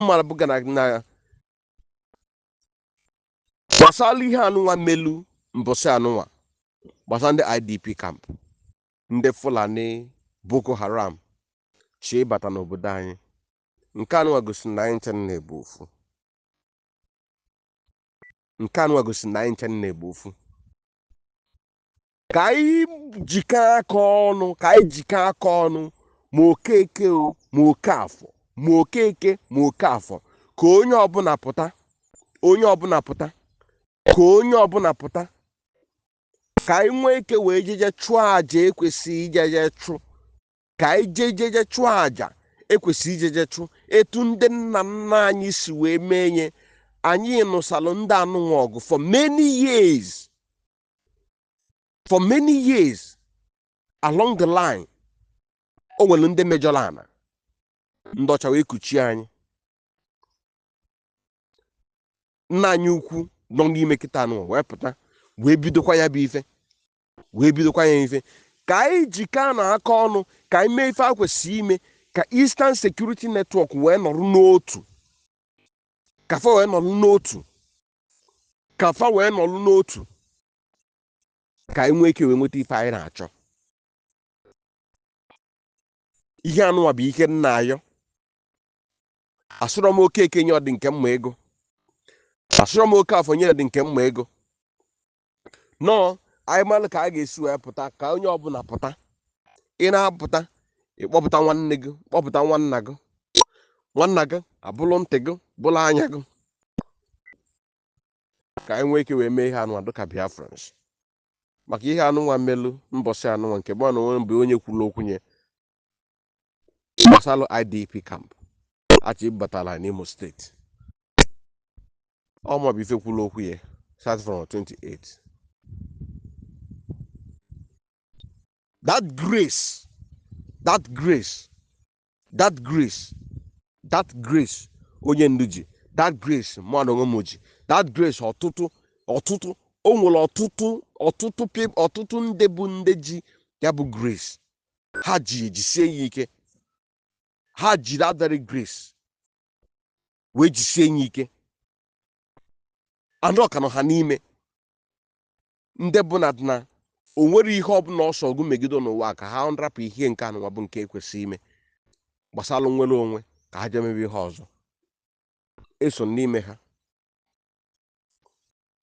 mara bụ gana na gbasara ihe anụnwa melu mbọsị anụnwa gbasara ndị idp camp ndị fulani boko haram chịbata n'obodo anyị nke anụnwa gosiri na anyị ncha nine bụ ofu nke anụnwa gosiri na anyị ncha nine bụ ofu ka anyị jikọọ aka ọnụ ka anyị jikọọ aka ọnụ ma okeke o ma okafọ ma okeke ma okafọ ka onye ọbụla pụta onye ọbụla pụta ka onye ọbụla pụta ka anyị nwee ike wee jeje chụọ aja e kwesịrị ijeje chụ ka anyị jee jeje chụọ aja ekwesị ijeje chụ etu ndị nna nna anyị si wee mee nye anyị nụsalụ ndị anụnwa ọgụ for many years for many years along the line o nwere ndị mejọrọ ana ndị ọcha wee kuchie anyị nna anyị ukwu nọ n'ime kịta anụ wee pụta wee bidokwa ya bụ ife wee bidokwa ya ife ka anyị jikọọnụ aka ọnụ ka anyị mee ife a kwesịrị ime ka Eastern Security Network wee nọrọ n'otu ka fa wee nọrọ n'otu ka fa wee nọlụ n'otu ka anyị nwee ike wee nweta ife anyị na-achọ ihe anụwa bụ ihe m na-ayọ asụrọ m okeke nye ọdị nke mma ego asụrọ m okafọ nye ọdị nke mma ego nọọ anyị malụ ka a ga-esi wee pụta ka onye ọbụla pụta ị na-apụta ị kpọpụta nwanne gị kpọpụta nwanna gị nwanna gị abụrụ ntị gị bụrụ anya gị ka anyị nwee ike wee mee ihe anụnwa dịka biafrans maka ihe anụnwa melu mbọsị anụnwa nke bụ na o nwere mgbe onye kwuru okwu nye gbasalụ idp camp a chịbatala n'imo steeti ọ maọbụ ife kwuru okwu ya start from 28 that grace that grace that grace that grace onye ndu ji that grace mụnwa onwe m ji that grace ọtụtụ ọtụtụ o nwere ọtụtụ ọtụtụ pip ọtụtụ ndị bụ ndị ji ya bụ grace ha ji ejisie ya ike ha ji that very grace wee jisie ya ike anụ ọkanụ ha n'ime ndị bụ na na o nwere ihe ọbụla ọsọ ọgụ megide n'ụwa ka ha nrapụ ihe nke anụnwa bụ nke ekwesị ime gbasara nnwere onwe ka ha jemebe ihe ọzọ i so n'ime ha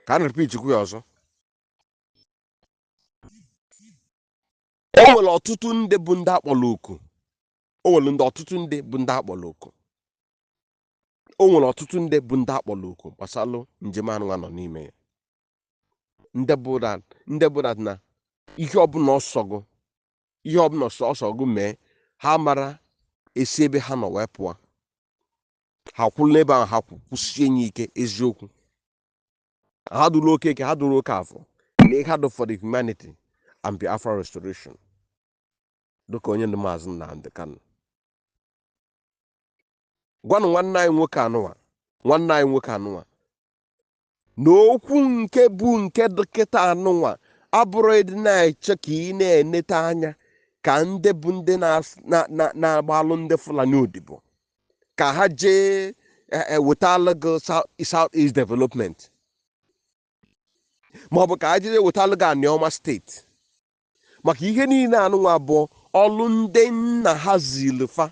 ka a na-repeatikwu ya ọzọ o nwere ọtụtụ ndị bụ ndị akpọrọ oku o nwere ndị ọtụtụ ndị bụ ndị akpọrọ oku o nwere ọtụtụ ndị bụ ndị akpọrọ oku gbasalụ njem anụnwa nọ n'ime ya ndị bụ that ndị bụ that na ihe ọbụla ọ sọ gụ ihe ọbụla ọ sọ ọ sọ gụ mee ha mara esi ebe ha nọ wee pụọ ha kwụrụ n'ebe ahụ ha kwụ- kwụsie nye ike eziokwu ha adụrọ Okeke ha adụrọ Okafọ na ihe ha dụ for the humanity and biafra restoration dịka onye ndu maazị Nnamdi Kanu gwalụ nwanne anyị nwoke anụwa nwanne anyị nwoke anụwa na okwu nke bụ nke dị kịta anụnwa abụrọ ịdị na-eche ka ị na-enete anya ka ndị bụ ndị na-agbalụ ndị Fulani odibo ka ha jee eh, eh, wetalụ gị South East Development maọbụ ka ha jee wetalụ gị Anioma steeti maka ihe niile anụnwa bụ ọlụ ndị nna ha zili fa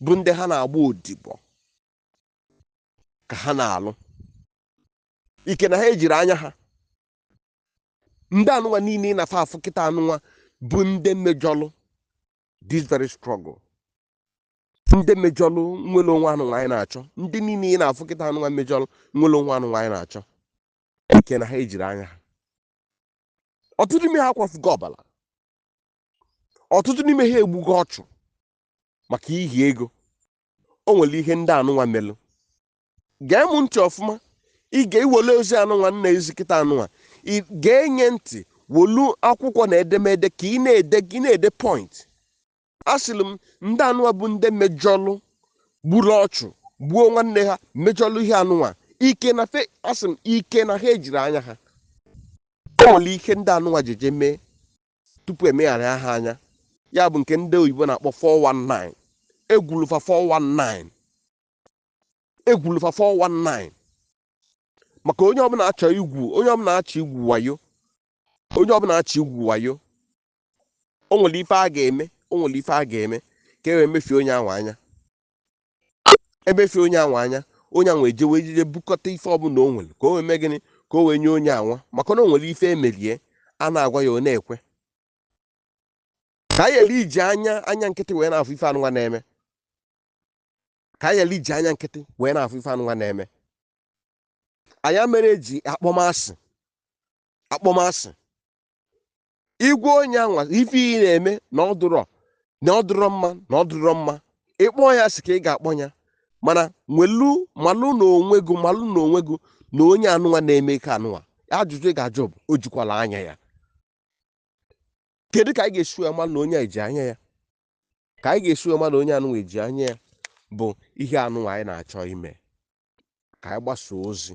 bụ ndị ha na-agba odibo ka ha na-alụ ike na ha ejirọ anya ha ndị anụnwa niile ị na-afụ afụ kịta anụnwa bụ ndị mejọlụ this very struggle ndị mejọlụ nnwere onwe anụnwa anyị na-achọ ndị niile ị na-afụ kịta anụnwa mejọlụ nnwere onwe anụnwa anyị na-achọ ike na ha ejirọ anya ha ọtụtụ n'ime ha akwafugo ọbara ọtụtụ n'ime ha egbugo ọchụ maka ihi ego o nwere ihe ndị anụnwa melụ gee m ntị ọfụma ị ga-ewele ozi anụnwa m na-ezi kịta anụnwa ị ga-enye ntị welu akwụkwọ na edemede ka ị na-ede ka ị na-ede point asịrị m ndị anụwa bụ ndị mejọlụ gburu ọchụ gbuo nwanne ha mejọlụ ihe anụwa ike na fe asị m ike na ha ejirọ anya ha o nwere ihe ndị anụwa jeje mee tupu e megharịa ha anya ya bụ nke ndị oyibo na-akpọ 419 egwulu fa 419 egwulu fa 419 maka onye ọbụla achọ igwu onye ọbụla achọ igwu wayo onye ọbụla achọ igwu wayo o nwere ife a ga-eme o nwere ife a ga-eme ka e wee mefie onye ahụ anya emefie onye ahụ anya onye ahụ ewee jeje bukọta ife ọbụla o nwere ka o wee mee gịnị ka o wee nye onye anwa maka na o nwere ife e mere ya a na-agwa ya ọ na-ekwe ka anyị ghara iji anya anya nkịtị wee na-afụ ife anụnwa na-eme ka anyị ghara iji anya nkịtị wee na-afụ ife anụnwa na-eme ọ ya mere eji akpọ m asị akpọ m asị ịgwa onye anwa ife ị na-eme na ọ dụrọ na ọ dụrọ mma na ọ dụrọ mma ịkpọ ya asị ka ị ga-akpọ ya mana nwelu malụ na onwe gị malụ na onwe gị na onye anụnwa na-eme ike anụnwa ajụjụ ị ga-ajụ bụ o jikwala anya ya kedu ka anyị ga-esi wee mara na onye a eji anya ya ka anyị ga-esi wee mara na onye anụnwa eji anya ya bụ ihe anụnwa anyị na-achọ ime ka anyị gbasaa ozi